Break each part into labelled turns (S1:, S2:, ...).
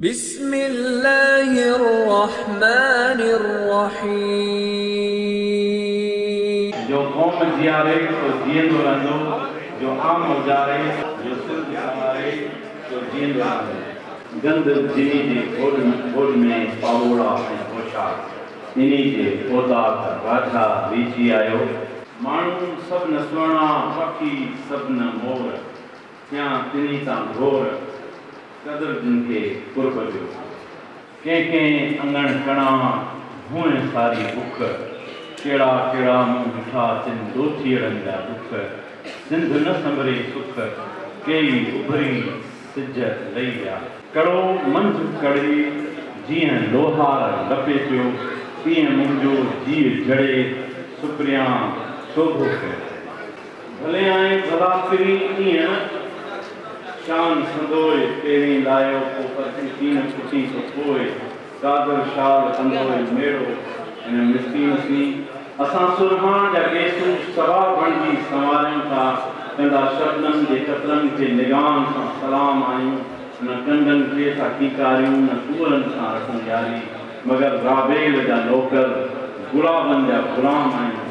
S1: بسم الله الرحمٰن الرحيم. جو قوم
S2: جياري سو جيئندو رهندو، جو عام اجاري، جو سنڌ سنواري سو جيئندو رهندو. گند جنھن جي گھوڏ ۾ گھوڏ ۾ پاٻوڙا ۽ پوشاڪ انھي جي اوطاق راجھا ويھجي آيو. ماڻھو سڀ نه سهڻا، پکي سڀ نه مور. ٿيان تنھي تان ڀور، قدر جن کي قرب جو. ڪنھن ڪنھن اڱڻ ڪڻا، ڀونء ساري بک. ڪھڙا ڪھڙا مون ڏٺا، تن ڏوٿيئڙن جا ڏک. سنڌ نه سنڀري سک، ڪيئي اڀري سج لھي ويا. ڪڙو منجھ ڪڙي، جيئن لوھار لپيٽيو، تيئن منھنجو جيء جھڙي سپريان سوڀو ڪيو. ڀلي آئين ڀلا پھرين ائين شان سندوء پيرين لايو پو پرچي تين ڦٽي تو پوء قادر شال ڪندوء ميڙو ھن مسڪين سين اسان سرھاڻ جا گيسو سوا بڻجي سنواريون ٿا ڪنڊا شبنم جي قطرن کي نگاھن سان سلام آھيون ھن ڪنڊن کي ٿا ڪيڪاريون نه ڪوئرن سان رکون ياري مگر رابيل جا نوڪر گلابن جا غلام آھيون.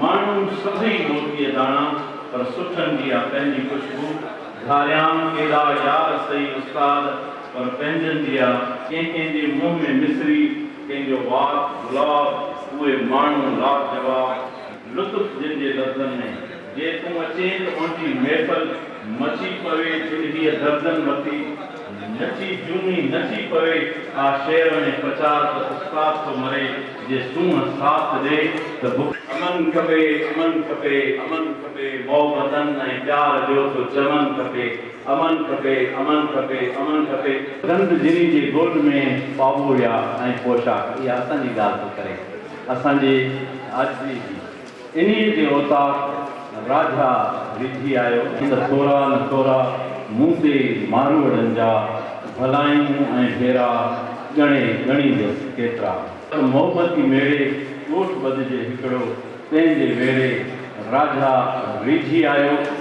S2: ماڻهو سڀئي موتيء داڻا، پر سٺن جي آ پنهنجي خوشبو، گهاريان ڪيڏا يار سئي استاد، پر پنهنجن جي آ، ڪنهن ڪنهن جي منهن ۾ مصري، ڪنهن جو وات گلاب، اهي ماڻهو لاجواب، لطف جن جي لفظن ۾، جي تون اچين ته اوهنجي محفل، مچي پوي جن هيء دردن مٿي. نٿي جهومي نٿي پوي آ شعر ۾ پچار ته استاد ٿو مري جي سونهن ساٿ ڏي ته بک. امن کپي امن کپي امن کپي محبتن ۽ پيار جو ٿو چمن کپي امن کپي امن کپي امن کپي. گند جني جي ڳوٺ ۾ پاٻوهيا ۽ پوشاڪ اها اسان جي ڳالهه ٿو ڪري اسان جي آجزي جي. انهيء جي اوطاق راجا ريجهي آيو. ته ٿورا نه ٿورا مون تي ماروئڙن جا ڀلايون ۽ ڦيرا ڳڻي ڳڻيندس. ڪيترا؟ ته مهومتي ميڙي ڳوٺ ٻڌجي هڪڙو، تنهن جي ويڙهي راجا ريجهي آيو.